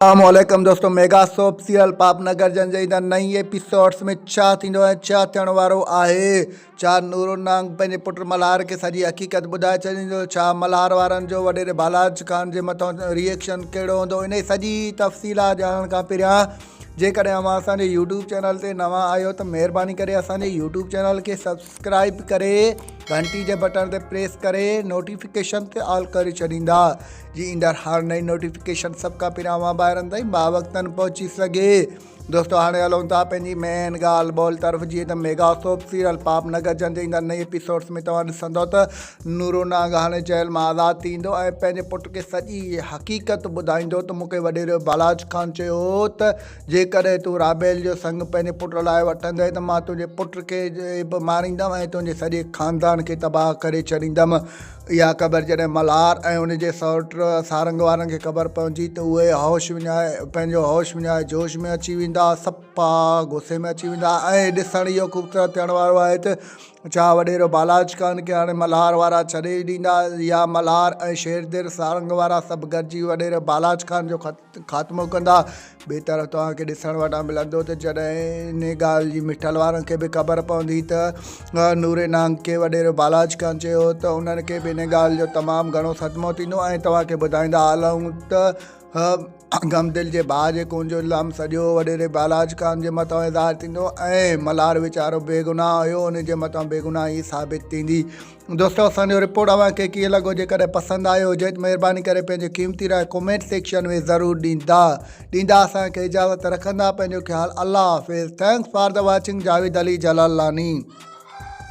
اسلام عليڪم دوستو mega soap serial Paap Nagar جن جي ايندڙ نئين ايپيسوڊز ۾ ڇا ٿيندو ۽ ڇا ٿيڻ وارو آهي ڇا نورو نانگ پنهنجي پٽ ملهار کي سڄي حقيقت ٻڌائي ڇڏيندو ڇا ملهار وارن جو وڏيري ڀالاج خان جي مٿان ري ايڪشن ڪهڙو هوندو انهي سڄي تفصيلات ڄاڻڻ کان پهريان جيڪڏهن اوهان اسان جي يوٽيوب چينل تي نوان آهيو ته مهرباني ڪري اسان جي يوٽيوب چينل کي سبسڪرائب ڪري گهنٽي جي بٽڻ تي پريس ڪري نوٽيفڪيشن تي آل ڪري ڇڏيندا جي ايندڙ هر نئين نوٽيفڪيشن سڀ کان پهريان اوهان ڀائرن تائين باوقتن پهچي سگهي دوستو هاڻي هلون ٿا پنهنجي مين ڳالهه ٻولهه طرف جيئن ته mega soap serial Paap Nagar جنهن جي ايندڙ نئين ايپيسوڊس ۾ توهان ڏسندو ته نورو ناگهاني جيل مان آزاد ٿيندو ۽ پنهنجي پٽ کي سڄي حقيقت ٻڌائيندو ته مونکي وڏيرو بالاج خان چيو هو ته جيڪڏهن تون رابيل جو سنگ پنهنجي پٽ لاء وٺندين ته مان تنهنجي پٽ کي به ماريندم ۽ تنهنجي سڄي خاندان کي تباهه ڪري ڇڏيندم اها خبر جڏهن ملهار ۽ ان جي سئوٽ سارنگ وارن کي خبر پوندي ته اهي هوش وڃائي پنهنجو هوش وڃائي جوش ۾ اچي ويندا صفا غصي ۾ اچي ويندا ۽ ڏسڻ اهو خوبصورت ٿيڻ وارو آهي ته ڇا وڏيرو بالاچ خان کي هاڻي ملهار وارا ڇڏي ئي ڏيندا يا ملهار ۽ شيردر سارنگ وارا سڀ گڏجي وڏيري بالاچ خان جو خط خاتمو ڪندا. ٻئي طرف توهان کي ڏسڻ وٽان ملندو ته جڏهن انهيء ڳالهه جي مٺل وارن کي به خبر پوندي ته نوري نانگ کي وڏيرو بالاچ کان چيو هو ته انهن کي به انهيء ڳالهه جو تمام گهڻو صدمو ٿيندو ۽ توهان کي ٻڌائيندا هلون ته غمدل جي ڀاء جي خون جو الزام سڄو وڏيري بالاچ خان جي مٿان ظاهر ٿيندو ۽ ملهار ويچارو بيگناهه هيو انهيء جي مٿان بيگناهي ثابت ٿيندي. دوستو اسان جو رپورٽ اوهان کي ڪيئن لڳو جيڪڏهن پسند آيو هجي ته مهرباني ڪري پنهنجي قيمتي راء ڪمينٽ سيڪشن ۾ ضرور ڏيندا ڏيندا اسان کي اجازت رکندا پنهنجو خيال الله حافظ thanks for the watching Javed Ali Jalalani